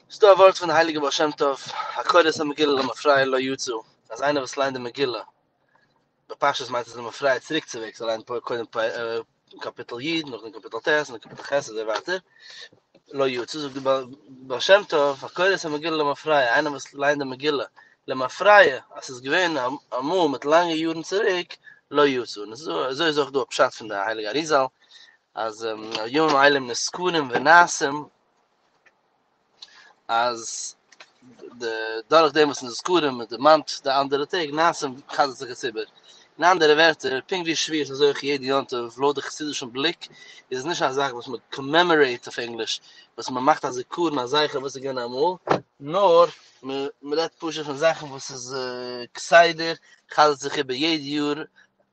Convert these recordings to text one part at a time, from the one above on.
ס'איז דא א ווארט פון הייליגער בעל שם טוב, הקורא את המגילה למפרע לא יצא, אז איינער וואס ליינט די מגילה, בפשטות מיינט עס למפרע צוריק צו וועג, זאל ליינען פ- קודם פ- אה, קאפיטל י, נאכדעם קאפיטל ט, און קאפיטל ח, אזוי ווייטער, לא יצא, זאגט די בעל בעל שם טוב, הקורא את המגילה למפרע, איינער וואס ליינט די מגילה, למפרע, אז ס'איז געווען א- אמאל מיט לאנגע יארן צוריק, לא יצא, און אזוי אזוי איז אויך דא א פשט פון די הייליגע אריזל, אז אמ, ימים אלה הם נזכרים ונעשים, אז די דורך דעם וואס איז זכרים מען דערמאנט די אנדערע טעג מעשים חזר'ט זיך עס איבער אין אנדערע ווערטער פונקט ווי שביעי איז אזוי אויך יעדע יום טוב לויט די חסידישן בליק איז עס נישט א זאך וואס מען קאמעמארעיט אויף ענגליש וואס מען מאכט א זיכרון א זכר וואס איז געווען אמאל נאר מען רעדט פשוט פון זאכן וואס איז כסדר חזר'ט זיך איבער יעדע יאר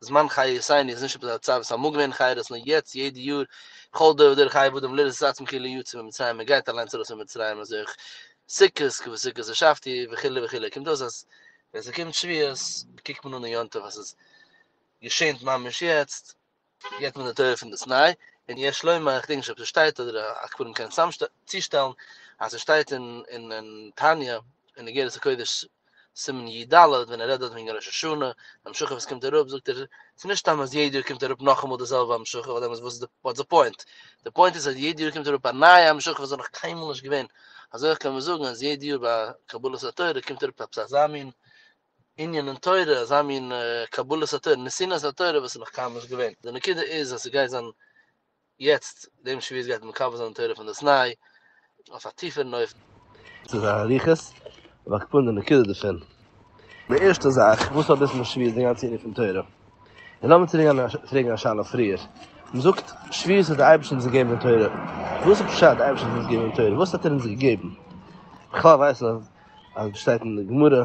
זמן חיי יאסייני איז נישט עפעס א צייט וואס אמאל געווען חיי דאס נאר יעצט יעדע יאר בכל דור ודור חיי ועודם לראות את עצמו כאילו יצא ממצרים מען גייט אליינס ארויס פון מצרים אזוי אויך סוכות כ ו סוכות השבתי וכו' וכו' קומט אויס אז ווען ס'קומט שביעות קוקט מען אן די יום טוב אז ס'איז געשענט ממש יעצט געט מען די תורה פון די סיני און יש לומר איך דענק נישט אויב ס'שטייט אדער א קברים קען צוזאם צושטעלן אז ס'שטייט אין אין תניא אין אגרת הקודש סימן י ד ווען ער רעדט דארט וועגן ראש השנה המשכה וואס קומט אראפ זאגט ער ס'איז נישט סתם אז יעדע יאר קומט אראפ נאכאמאל די זעלבע המשכה ווייל דעמאלטס וואס איז די פוינט די פוינט איז אז יעדע יאר קומט אראפ א נייע המשכה וואס איז נאך קיינמאל נישט געווען אזוי אויך קען מען זאגן אז יעדע יאר ביי קבלת התורה קומט אראפ עפעס אזא מין ענין אין תורה אזא מין קבלת התורה נסינת התורה וואס איז נאך קיינמאל נישט געווען די נקודה איז אז ס'גייט זיין יעצט דעם שביעית גייט מען מקבל זיין די תורה פון די תנאי אויף א טיפערן אופן. צו זיין אריכות, אבער איך פועל די נקודה דערפון. די ערשטע זאך, וואס האט דאס מיט שביעית די גאנצע ענין פון תורה? און לאמיר צוריק גיין און פרעגן א שאלה פריער. מ'זאגט, שביעית האט די אייבערשטער אונז געגעבן די תורה. וואס איז פשט די אייבערשטער האט אונז געגעבן די תורה? וואס האט ער אונז געגעבן? בכלל ווייסט מען אז ס'שטייט אין די גמרא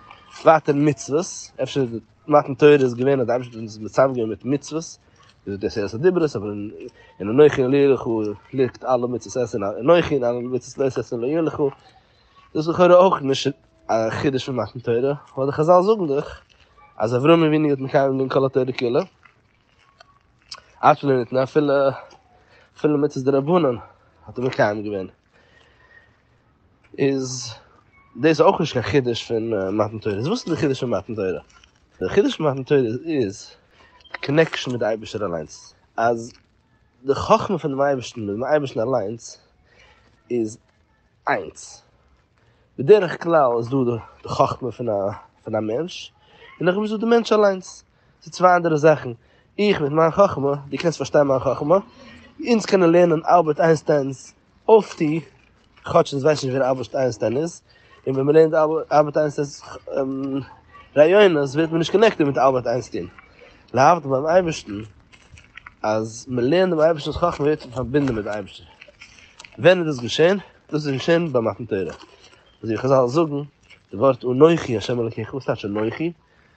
צווייטע מצוות, אפשר מתן תורה איז געווען אז די אייבערשטער האט אונז מצוה געווען מיט מצוות, איז דאס עשרת הדיברות, אבער אין אנכי לא יהיה לך ליגט אלע מצוות עשה אנכי און אלע מצוות לא עשה לא יהיה לך, דאס איז לכאורה אויך נישט א חידוש פון מתן תורה, ווייל די חזל זאגן דאך אז אברהם אבינו האט מקיים געווען כל התורה כולה, אפילו ניתנה אפילו מצות דרבנן האט ער מקיים געווען. איז דאס אויך נישט קיין חידוש פון מתן תורה, איז וואס איז די חידוש פון מתן תורה? די חידוש פון מתן תורה איז קאנעקשאן מיט די אייבערשטער אליינס, אז די חכמה פונעם אייבערשטן מיט דעם אייבערשטן אליינס איז איינס, בדרך כלל איז דא די חכמה פון א מענטש, און נאכדעם איז דא די מענטש אליינס. ס'איז צוויי אנדערע זאכן, איך מיט מיין חכמה, דו קענסט פארשטיין מיין חכמה, אונז קענען לערנען אלבערט איינשטיין'ס אויפטו, כאטש אונז ווייסן נישט ווער אלבערט איינשטיין איז, און ווען מען לערנט אלבערט איינשטיין'ס רעיונות ווערט מען נישט קאנעקטעד מיט אלבערט איינשטיין, להבדיל ביים אייבערשטן אז מען לערנט דעם אייבערשטנ'ס חכמה ווערט מען פארבינדן מיט דעם אייבערשטער, ווען איז דאס געשען? דאס איז געשען ביי מתן תורה, אזוי ווי חזל זאגן די ווארט אנכי ה' אלקיך, וואס טייטש אנכי?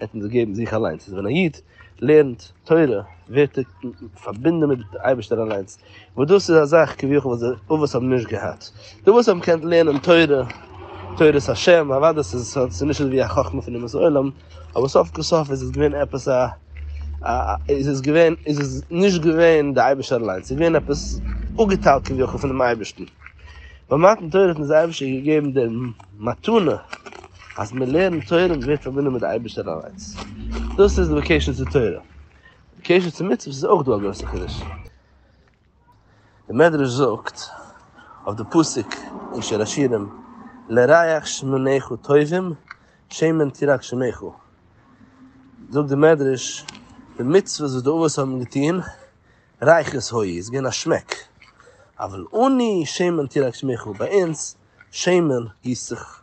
ער וועט אונז געבן זיך אליינס, ווען א איד לערנט תורה ווערט ער פארבינדן מיט דעם אייבערשטער אליינס, וואס דאס איז א זאך כביכול וואס די אבות האבן נישט געהאט, די וואס האבן געקענט לערנען תורה, תורת השם, אוודאי ס'איז נישט אזוי ווי א חכמה פון אומות העולם, אבער סוף כל סוף איז עס געווען עפעס א א איז עס געווען איז עס נישט געווען די אייבערשטער אליינס, ס'איז געווען עפעס אפגעטיילט כביכול פונעם אייבערשטן, ביי מתן תורה האט אונז דער אייבערשטער געגעבן די מתנה. אז מען לערנט תורה מען ווערט פארבינדן מיט די אייבערשטער אליינס, דאס איז די קשר צו תורה, די קשר צו מצוות איז אויך דא א גרויסע חידוש, די מדרש זאגט אויף די פסוק אין שיר השירים לריח שמניך טובים שמן תירק שמיך, זאגט די מדרש די מצוות וואס די אבות האבן געטון ריחות הוי איז געווען א שמעק, אבל אני שמן תירק שמיך, ביי אונז שמן גיסט זיך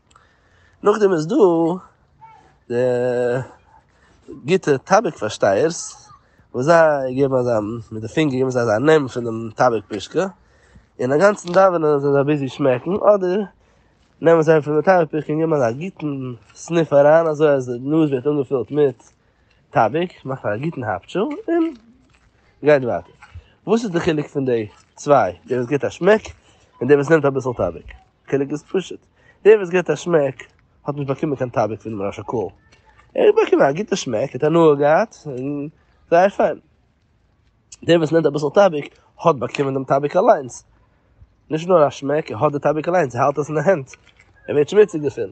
נאכדעם איז דא די גוטע טאביק פארשטייערס וואס זיי געבן אזא מיט די פינגער געבן זיי אזא נעם פון דעם טאביק פושקע און אגאנצן דאווענען זענען זיי ביזי שמעקן אדער נעמען זיי פון די טאביק פושקע און געבן אזא גוטן סניף אריין אזוי אז די נאז ווערט אנגעפילט מיט טאביק מאכט א גוטן האפטשו און גייט ווייטער. וואס איז די חילוק פון די צוויי דער וואס געבט א שמעק און דער וואס נעמט אביסל טאביק? חילוק איז פשוט, דער וואס געט א שמעק האט נישט באקומען קיין טאביק פונעם ראש הקהל, ער האט באקומען א גוטע שמעק, ער האט הנאה געהאט, זייער פיין. דער וואס נעמט אביסל טאביק האט באקומען דעם טאביק אליינס, נישט נאר א שמעק, ער האט די טאביק אליינס, ער האלט עס אין די הענט, ער ווערט שמוציג דערפון.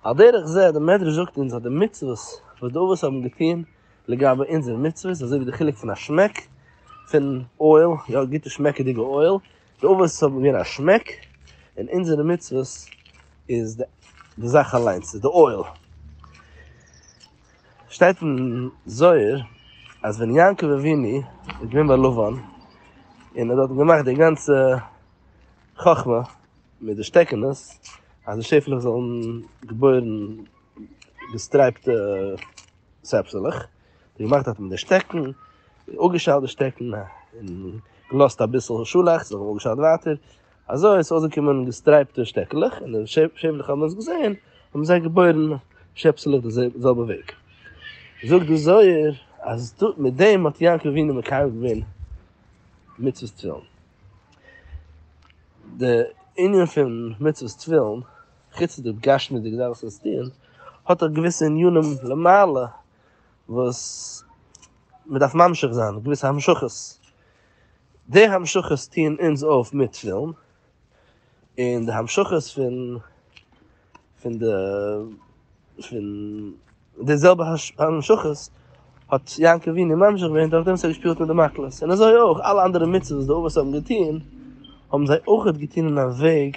על דרך זה, דער מדרש זאגט אונז אז די מצוות וואס די אבות האבן געטון לגבי אונזערע מצוות, אזוי ווי די חילוק פון א שמעק פון אויל, יא גוטע שמעקעדיגע אויל, תאוות האבן מיר א שמעק, און אונזערע מצוות איז די די זאך אליינס, איז די אויל. שטייט אין זוהר אז ווען יעקב אבינו איז געווען ביי לבן, און ער האט דארט געמאכט די גאנצע חכמה מיט די שטעקענעס, אז די שעפעלעך זאלן געבוירן געסטרייפטע שעפסעלעך, און געמאכט האט מען די שטעקן, אפגעשטעלט די שטעקן, און געלאזט אביסל שאלאכטס, זיי האבן אפגעשטעלט ווייטער, אזוי איז אויסגעקומען געסטרייפטע שטעקלעך, און די שעפעלעך האבן עס געזען, האבן זיי געבוירן שעפסעלעך די זעלבע וועג. זאגט די זוהר אז מיט דעם האט יעקב אבינו מקיים געווען מצוות תפילין. די ענין פון מצוות תפילין, חוץ די גשמיות'דיגע זאכן וואס מען דארף עס טון, האט אויך געוויסע ענינים למעלה, וואס מען דארף ממשיך זיין געוויסע המשכות, די המשכות טוען אונז אויף מיט תפילין, און די המשכות פון פון די פון די זעלבע המשכות האט יעקב אבינו ממשיך געווען דורך דעם וואס ער האט געשפילט מיט די מקלות, און אזוי אויך אלע אנדערע מצוות וואס די אבות האבן געטון האבן זיי אויך געטון אין א וועג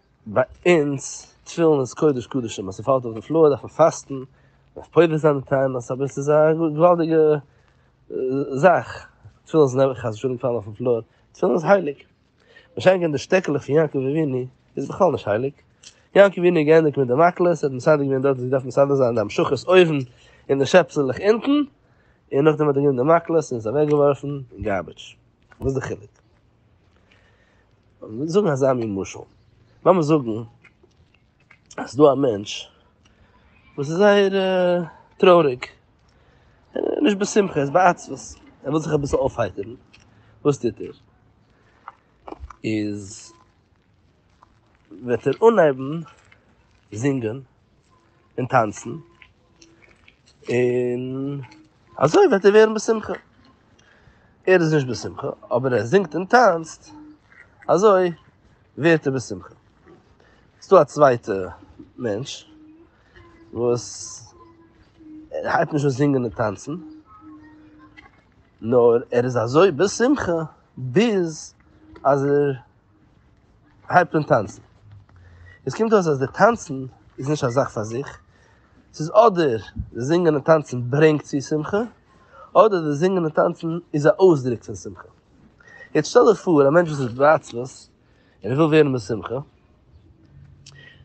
ביי אונז תפילין איז קודש קדשים, אז ס'פאלט אויף די פלאר דארף מען פאסטן, מ'דארף פודה זיין די טענות, אבער ס'איז א געוואלדיגע זאך, תפילין זאל נעבעך חס ושלום פאלן אויפן פלאר, תפילין איז הייליג, באשענקען די שטעקעלעך פון יעקב אבינו איז בכלל נישט הייליג, יעקב אבינו האט געענדיגט מיט די מקלות, ער האט מסדר געווען דארט וואו ס'דארף מסדר זיין די המשכות אויבן און די שעפסעלעך אונטן, און נאכדעם האט ער גענומען די מקלות און עס אוועקגעווארפן אין גארביטש, וואס איז די חילוק? מיר זאגן אזא מין משל, לאמיר זאגן אז ס'דא א מענטש וואס איז זייער טרויעריג, ער איז נישט בשמחה, ער איז בעצבות, ער וויל זיך אביסל אויפהייטערן, וואס טוט ער? איז. וועט ער אנהייבן זינגען און טאנצן, און אזוי וועט ער ווערן בשמחה. ער איז נישט בשמחה, אבער ער זינגט און טאנצט, אזוי ווערט ער בשמחה. ס'איז דא א צווייטע מענטש, וואס ער הייבט נישט אן זינגען און טאנצן, נאר ער איז אזוי בשמחה, ביז אז ער הייבט אן טאנצן. עס קומט אויס אז די טאנצן איז נישט א זאך פאר זיך, ס'איז אדער די זינגען און טאנצן ברענגט צו שמחה, אדער די זינגען און טאנצן איז א אויסדרוק פון שמחה. יעצט שטעל דיך פאר א מענטש וואס איז עצלות און ער וויל ווערן בשמחה,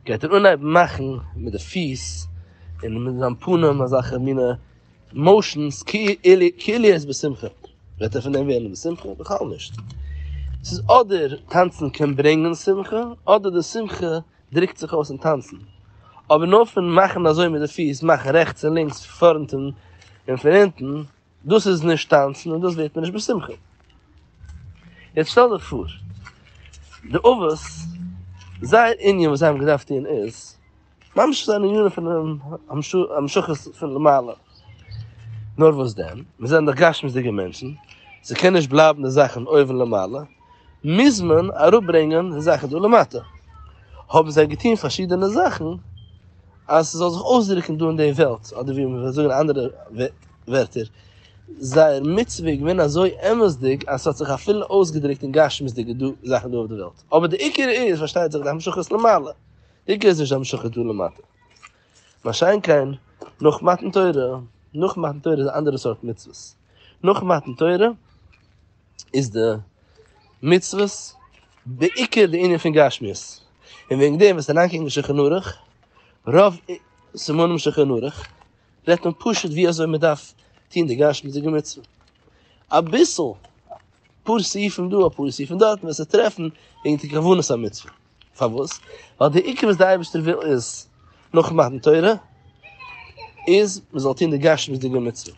גייט ער אנהייבן מאכן מיט די פיס און מיט זיין פנים אזעלכע מינע, מאושענס כליות בשמחה, וועט ער פון דעם ווערן בשמחה? בכלל נישט. ס'איז אדער טאנצן קען ברענגען שמחה, אדער די שמחה דרוקט זיך אויס אין טאנצן. אבער נאר פון מאכן אזוי מיט די פיס, מאכן רעכטס און לינקס, פארנט און פון אונטן, דאס איז נישט טאנצן און דאס ווערט מען נישט בשמחה. יעצט שטעל דיך פאר, די אבות, זייער ענין וואס זיי האבן געדארפט טון איז, ממש איז אן ענין פון המשכה פון למעלה. נאר וואס דען? מיר זענען דאך גשמיות'דיגע מענטשן, ס'קען נישט בלייבן די זאכן אויבן למעלה, מוז מען אראפברענגען די זאכן דא למטה. האבן זיי געטון פארשידענע זאכן אז ס'זאל זיך אויסדרוקן דא אין די וועלט, אדער ווי מ'וועט זאגן אין אנדערע ווערטער, זייער מצוה איז געווען אזוי אמת'דיג אז ס'האט זיך אפילו אויסגעדרוקט אין גשמיות'דיגע זאכן דא אויף די וועלט. אבער די עיקר איז פארשטייט זיך די המשכת למעלה. עיקר איז נישט די המשכה דא למטה. מה שאין כן נאך מתן תורה, נאך מתן תורה איז א אנדערע סארט מצוות. נאך מתן תורה איז די מצוות בעיקר די ענין פון גשמיות. און וועגן דעם וועסטו אריינקוקן אין שולחן ערוך, רוב סימנים שולחן ערוך, רעדט מען פשוט ווי אזוי מען דארף טון די גשמיות'דיגע מצוה. אביסל אפאר סעיפים דא אפאר סעיפים דארט וועסטו טרעפן וועגן די כוונת המצוה. פארוואס? ווייל די עיקר וואס די אייבערשטער וויל איז נאך מתן תורה איז מען זאל טון די גשמיות'דיגע מצוה,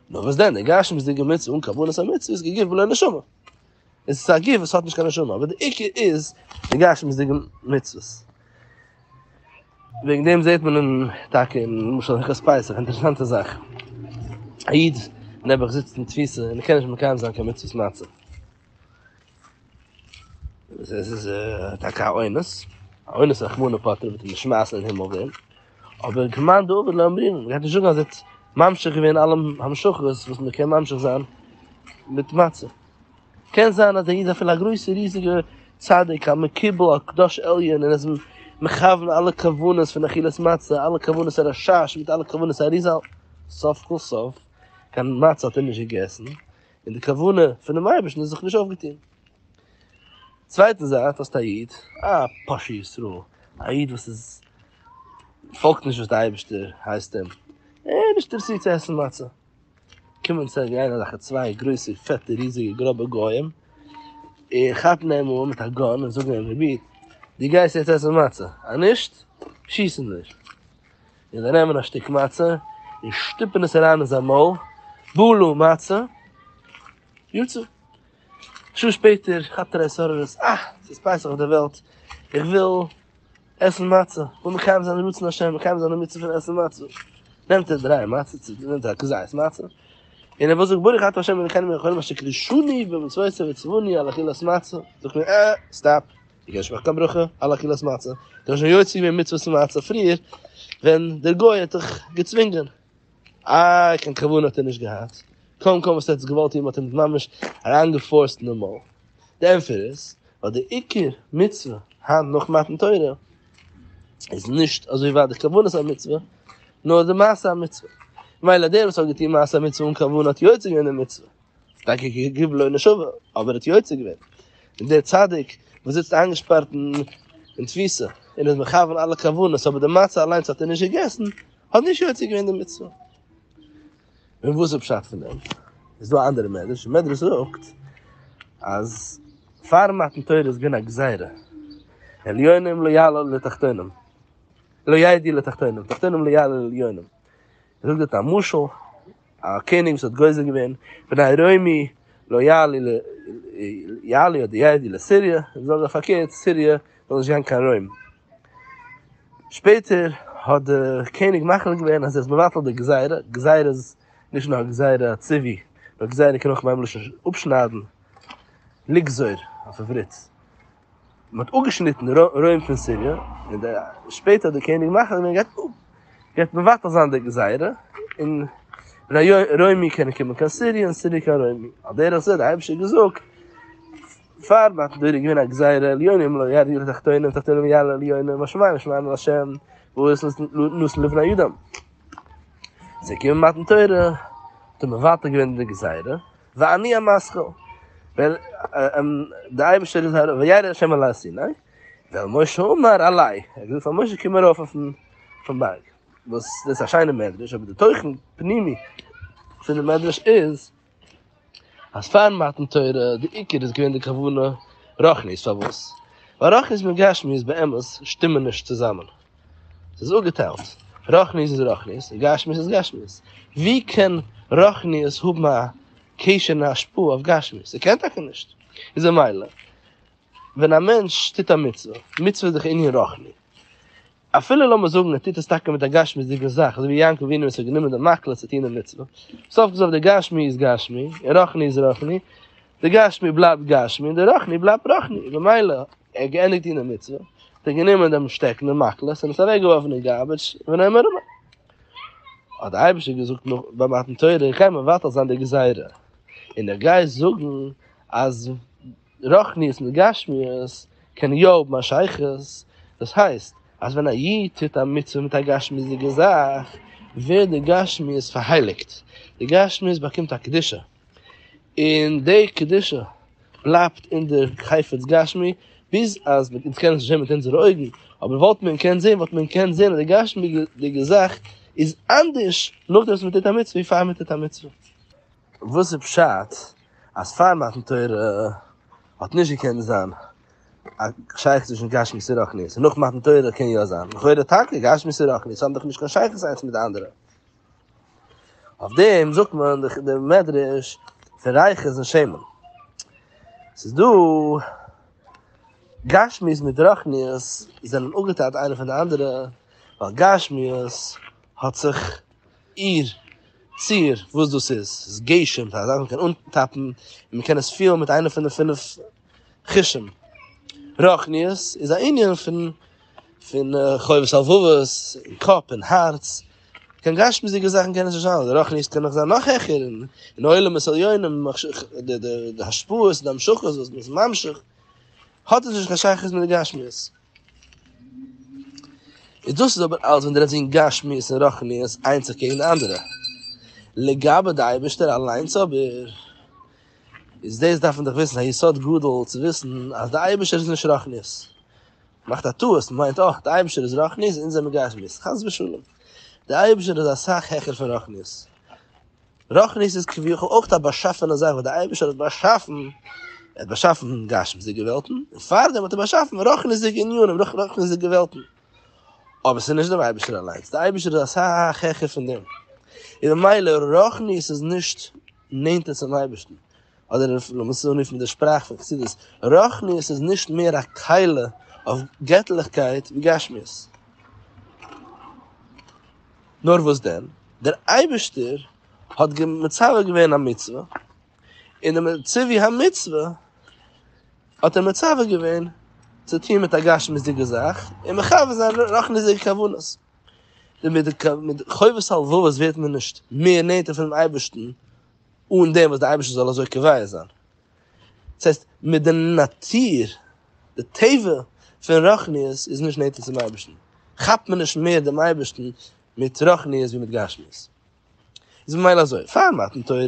נאר וואס דען די גשמיות'דיגע מצוה אן כוונת המצוה איז כגוף בלא נשמה, עס איז א גוף וואס האט נישט קיין נשמה, אבער די עיקר איז די גשמיות'דיגע מצוות, וועגן דעם זעט מען אין טאקע אין למשל הלכות פסח, אינטערעסאנטע זאך, א איד נעבעך זיצט אין תפיסה און ער קען נישט מקיים זיין קיין מצוות מצה. עס איז טאקע א עונש, א עונש רחמנא פטרא וועט אים נישט שמייסן אין הימל ווערן, אבער כמאן דאבד לא אומרים, מען גייט נישט זאגן אז ער האט ממשיך געווען אלע המשכות וואס מען קען ממשיך זיין מיט מצה. קען זיין אז ער איז אפילו א גרויסע ריזיגע צדיק א מקובל א קדוש עליון און ער איז מכוון אלע כוונות פון אכילת מצה, אלע כוונות הרשש מיט אלע כוונות האריזל, סוף כל סוף קיין מצה האט ער נישט געגעסן, און די כוונה פונעם אייבערשטן איז זיך נישט אויפגעטון. צווייטן זייט האסטו א איד, א פושע ישראל, א איד וואס איז פאלגט נישט וואס די אייבערשטער הייסט אים, ער איז נישט אינטערעסירט צו עסן מצה, קומען צו גיין אזעלכע צוויי גרויסע פעטע ריזיגע גראבע גוים און כאפן אים אן מיט א גאן און זאגן אים רבי דו גייסט יעצט עסן מצה, אז נישט שיסן מיר. און זיי נעמען א שטיק מצה און שטופען עס אריין אין זיין מויל, בלו מצה, יצא. א שעה שפעטער כאפט ער התעוררות, אה, ס'איז פסח אויף דער וועלט, איך וויל עסן מצה, איך וויל מקיים זיין רצון השם, מקיים זיין די מצוה פון עסן מצה. נעמט ער דריי מצות, נעמט ער א כזית מצה, און ער וויל זאגן ברוך אתה השם אלוקינו מלך העולם אשר קידשני במצוותיו וציווני על אכילת מצה, זאגט מען, אה, סטאפ, איך הערשט מיך קיין ברכה על אכילת מצה, איך בין שוין יוצא געווען מצוות מצה פריער, ווען דער גוי האט דיך געצווינגען. איי קיין כוונה האט ער נישט געהאט, קוים קוים וואס ער האט עס געוואלט טון, מ'האט אים ממש אריינגעפארסט אין די מויל. די ענטפער איז, ווייל די עיקר מצוה היינט נאך מתן תורה, איז נישט אזוי ווייט די כוונת המצוה, נאר די מעשה המצוה. ממילא דער וואס האט געטון מעשה המצוה אן כוונה האט יוצא געווען די מצוה. טאקע כגו' לא נשבה, אבער ער האט יוצא געווען, און דער צדיק וואס זיצט איינגעשפארט אין תפיסה, און איז מכוון אלע כוונות, אבער די מצה אליינס האט ער נישט געגעסן, האט נישט יוצא געווען די מצוה. און וואס איז פשט פון דעם? איז דא א אנדערע מדרש, דער מדרש זאגט אז פארן מתן תורה איז געווען א גזירה, עליונים לא יעלו לתחתונים, לא יעדי לתחתונים, תחתונים לא יעלו לעליונים. זאגט דארט א משל, א קעניג וואס האט גוזר געווען, בני רומי לא יעלי ל יעלי אדער יעדי לסירי', זאג ער פארקערט, סירי' זאל נישט גיין קיין רוים. שפעטער האט די קעניג מחליט געווען אז ער איז מבטל די גזירה, גזירה איז נישט נאר גזירה ציווי, נאר גזירה קען אויך מיינען מלשון אפשניידן, לגזור אויף עברית. מען האט אפגעשניטן רוים פון סיריע, און דער שפעטער דער קעניג מאכער האט געוואלט געהייט מבטל זיין די גזירה, און רוימי קענען קומען קיין סיריע און סיריע קיין רוימי, על דרך זה האט דער אייבערשטער געזאגט פאר מתן תורה איז געווען א גזירה עליונה אם לא ירדו לתחתונים ותחתונים יעלו עליונה והשמים ישמעון אל השם וואס איז נתן לבני אדם, איז געקומען מתן תורה האט ער מבטל געווען די גזירה. ואני המשכיל, ווען דער אייבערשטער איז ארויף, וירא השם אל הר סיני, ועל משה אמר עלי, ער האט געזאגט פאר משה קום ארויף אויפן בארג, וואס דאס איז א שיינע מדרש, אבער די תוכן פנימי פון די מדרש איז, אז פארן מתן תורה די עיקר איז געווען די כוונה רוחנית, פארוואס? ווייל רוחנית מיט גשמיות באמת שטימען נישט צוזאמען. ס'איז אפגעטיילט, רוחניות איז רוחניות און גשמיות איז גשמיות, ווי קען רוחניות האבן א קשר און א השפעה אויף גשמיות? ס'קען טאקע נישט, איז ממילא ווען א מענטש טוט א מצוה, מצוה איז דאך ענין רוחני, אפילו לאמיר זאגן ער טוט עס טאקע מיט א גשמיות'דיגע זאך, אזוי ווי יעקב אבינו וואס האט גענומען די מחלה צו טון די מצוה, סוף כל סוף די גשמי איז גשמי און רוחני איז רוחני, די גשמי בלייבט גשמי און די רוחני בלייבט רוחני, ממילא. ער האט געענדיגט טון די מצוה, האט ער גענומען דעם שטעקן דעם מקל עס און עס אוועק געווארפן אין גארביטש ווען אים ארום האט די אייבישטער געזאגט נאך ביי מתן תורה איך גיי מבטל זיין די גזירה און איך גיי זאגן אז רוחניות מיט גשמיות קען יא האבן א שייכות דאס הייסט אז ווען א איד טוט א מצוה מיט א גשמיות'דיגע זאך ווערט די גשמיות פארהייליגט די גשמיות באקומט א קדושה. און די קדושה בלייבט אין די חפץ גשמי, ביז אז מען קען עס נישט זען מיט אונזערע אויגן, אבער וואלט מען קענט זען, וואלט מען קענט זען אז די גשמיות'דיגע זאך איז אנדערש נאכדעם וואס מען טוט א מצוה ווי פאר מען טוט א מצוה. וואס איז פשט אז פאר מתן תורה האט נישט געקענט זיין א שייכות צווישן גשמיות און רוחניות, און נאך מתן תורה קען יא זיין? לכאורה טאקע, גשמיות און רוחניות האבן דאך נישט קיין שייכות איינס מיט די אנדערע. אויף דעם זאגט מען די מדרש פון רייכע איז אין שמן. ס'איז דא גשמיות מיט רוחניות זענען אפגעטיילט איינע פון די אנדערע, ווייל גשמיות האט זיך איר ציר וואס דאס איז, ס'איז געשען, ס'איז א זאך וואס מ'קען אנטאפן און מ'קען עס פילן מיט איינע פון די פינף. חושים. רוחניות איז א ענין פון פון חובות הלבבות און קאפ און הארץ, קיין גשמיות'דיגע זאכן קען עס נישט זיין, רוחניות קען נאך זיין נאך העכער און און עולמות עליונים די די די השפעות די המשכות וואס מ'איז ממשיך, האט עס נישט קיין שייכות מיט די גשמיות. און דאס איז אבער אלס ווען דו רעדסט וועגן גשמיות און רוחניות איינס זיך קעגן די אנדערע. לגבי די אייבערשטער אליינס אבער. איז דאס דארף מען דאך וויסן א יסוד גדול צו וויסן אז די אייבערשטער איז נישט רחניות, מ'מאכט א טעות מ'מיינט אה די אייבערשטער איז רחניות אונז זעמיר גשמיות, חס ושלום, די אייבערשטער איז אסאך העכער פון רחניות, רחניות איז כביכול אויך א באשאפענע זאך וואס די אייבערשטער האט באשאפן, ער האט באשאפן גשמיות'דיגע וועלטן און פארדעם האט ער באשאפן רחניות'דיגע עניינים, רחניות'דיגע וועלטן, אבער ס'איז נישט דעם אייבערשטער אליינס, די אייבערשטער איז אסאך העכער פון דעם, און ממילא רחניות איז נישט. נענטער צום אייבערשטן, אדער לאמיר עס אנרופן מיט די שפראך פון חסידות, רוחניות איז נישט מער א קלע אויף געטליכקייט ווי גשמיות. נאר וואס דען, דער אייבערשטער האט מצווה געווען א מצוה, און די ציווי המצוה האט ער מצווה געווען צו טון מיט א גשמיות'דיגע זאך, און מכוון זיין רוחניות'דיגע כוונות. און מיט די חובות הלבבות ווערט מען נישט מער נענטער פונעם אייבערשטן אן דעם וואס דער אייבערשטער זאל אזוי קובע זיין. דאס הייסט, מיט די נאטור, די טבע פון רוחניות איז נישט נענטער צום אייבערשטן, כאפט מען נישט מער דעם אייבערשטן מיט רוחניות ווי מיט גשמיות. איז ממילא אזוי, פאר מתן תורה,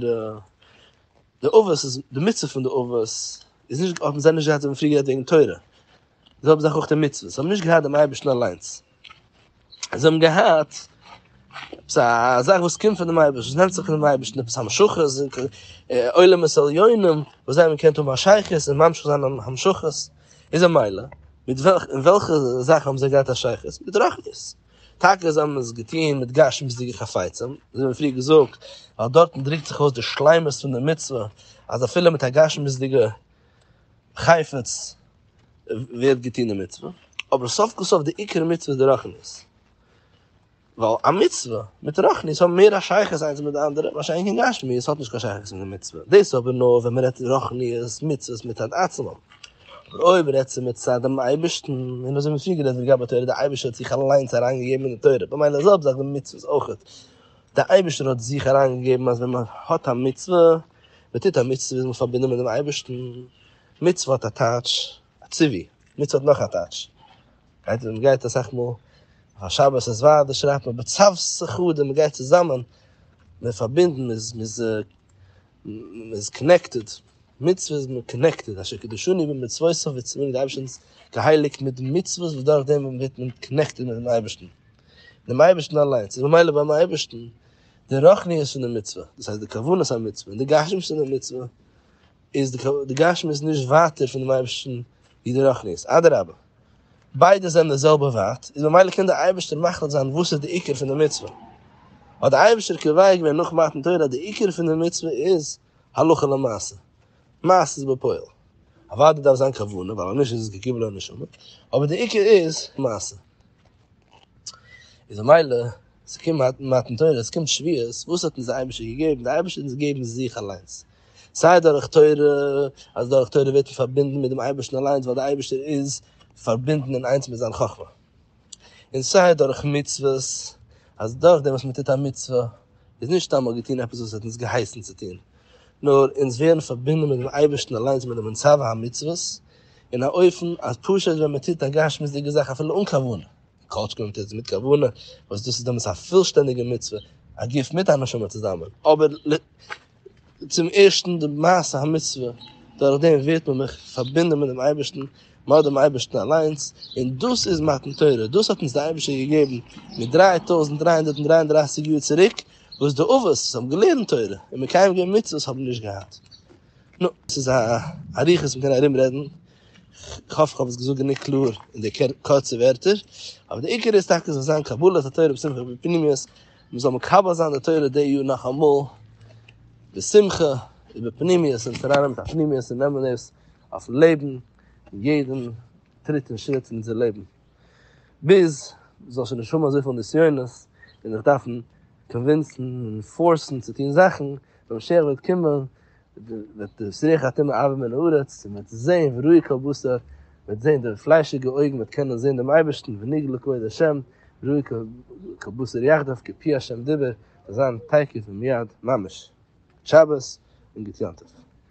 די אבות איז, די מצוה פון די אבות איז נישט, האבן זיי נישט געהאט, זיי האבן פריער גערעדט וועגן תורה, זיי האבן זיך אויך די מצוות, זיי האבן נישט געהאט דעם אייבערשטן אליינס. זיי האבן געהאט עפעס א זאך וואס קומט פונעם אייבערשטן, וואס נעמט זיך פונעם אייבערשטן, עפעס המשכות, עולמות עליונים, וואס זיי האבן געקענט האבן א שייכות און ממשיך זיין אן המשכות, איז א מילא, מיט וועלכע, אין וועלכע זאכן האבן זיי געהאט א שייכות? מיט רוחניות. טאקע זיי האבן עס געטון מיט גשמיות'דיגע חפצים, ווי מיר האבן פריער געזאגט, ווייל דארטן דרוקט זיך אויס די שלימות פון די מצוה, אז אפילו מיט א גשמיות'דיגע חפץ, ווערט געטון די מצוה, אבער סוף כל סוף די עיקר מצוה איז די רחמנות, ווייל א מצוה מיט רחמנות האבן מער א שייכות איינס מיט די אנדערע, מה שאין כן גשמיות האט נישט קיין שייכות מיט די מצוה, דאס אבער נאר ווען מען רעדט רוחניות מצוות מצד עצמם, אבער אויב רעדט זי מצד דעם אייבערשטן, און אזוי ווי פריער גערעדט לגבי תורה, די אייבערשטער האט זיך אליינס אריין געגעבן אין די תורה, במילא איז אזעלכע זאכן ווי מצוות אויך, די אייבערשטער האט זיך אריין געגעבן אז ווען מען האט א מצוה, מען טוט א מצוה איז מען פארבינדן מיט דעם אייבערשטן, מצוה האט א טייטש א ציווי, מצוה האט נאך א טייטש, גייט ווען מ'גייט אסאך מאל אויף א שבת איז ווייט דאס שרייבט מען בצוות אחד און מ'גייט צוזאמען, מ'איז פארבינדן מ'איז מ'איז מ'איז קאנעקטעד, מצוה איז מען קאנעקטעד, אשר קדשני במצוותיו ווי צו זאגן די אייבערשטן איז געהייליגט מיט די מצוות וואס דורך דעם ווערט מען קאנעקטעד מיטן אייבערשטן, דעם אייבערשטן אליינס איז ממילא ביים אייבערשטן די רוחניות פון די מצוה, דאס הייסט די כוונת המצוה און די גשמיות פון די מצוה. איז די די גשמיות נישט ווייטער פון דעם אייבערשטן ווי די רוחניות, אדרבה ביידע זענען די זעלבע ווייט, איז ממילא קען דער אייבערשטער מחליט זיין וואס איז די עיקר פון די מצוה, האט דער אייבערשטער קובע געווען נאך מתן תורה אז די עיקר פון די מצוה איז הלכה למעשה, מעשה בפועל, אוודאי דארף זיין כוונה ווייל אז נישט איז עס געגובל על נשמה, אבער די עיקר איז מעשה, איז ממילא ס'קומט מתן תורה, ס'קומט שביעות, וואס האט אונז דער אייבערשטער געגעבן? דער אייבערשטער האט אונז געגעבן זיך אליינס, סיי דורך תורה, אז דורך תורה ווערט מען פארבינדן מיט דעם אייבערשטן אליינס ווייל דער אייבערשטער איז פארבינדן אין איינס מיט זיין חכמה, און סיי דורך מצוות, אז דורך דעם וואס מען טוט א מצוה איז נישט סתם מ'האט געטון עפעס וואס ער האט אונז געהייסן צו טון, נאר אונז ווערן פארבינדן מיט דעם אייבערשטן אליינס מיט דעם מצוה המצוות, אין א אופן אז פשוט ווען מען טוט א גשמיות'דיגע זאך אפילו אן כוונה, כל שכן ווען מען טוט עס מיט כוונה, וואס דאס איז דעמאלטס א פולשטענדיגע מצוה, א גוף מיט א נשמה צוזאמען, אבער צום ערשטן די מעשה המצוה, דורך דעם ווערט מען מיך פארבינדען מיט דעם אייבערשטן, מען האט דעם אייבערשטן אליינס, און דאס איז מתן תורה, דאס האט אונז די אייבערשטער געגעבן מיט דרײַ טויזנט דרײַ הונדערט און דרײַ און דרײַסיק יאר צוריק, וואס די אבות וואס האבן געלערנט תורה און מקיים געווען מצוות האבן נישט געהאט. נו, ס'איז א אריכות מ'קען ארום רעדן, כ'האף כ'האב עס געזאגט גענוג קלאר אין די קורצע ווערטער, אבער די עיקר איז טאקע זאל זיין קבלת התורה בשמחה ובפנימיות, מען זאל מקבל זיין די תורה די יאר נאכאמאל בשמחה איבער פנימיות און צונאנעמען א פנימיות און נעמען עס אויפן לעבן אין יעדן טריט און שריט פון אונזער לעבן ביז מ'זאל שוין נישט האבן אזויפיל נסיונות און זיך דארפן קאנווינסן און פארסן צו טון זאכן ווען משיח וועט קומען וועט דאס ריח הטומאה ארבען מן הארץ, און וועט זען וראי כל בשר, וועט זען די פליישיגע אויגן וועט קענען זען דעם אייבערשטן, ונגלה כבוד השם, וראי כל בשר יחדיו כפי השם דיבר, זיין תיכף ומיד ממש. גוט שבת און גוט יום טוב.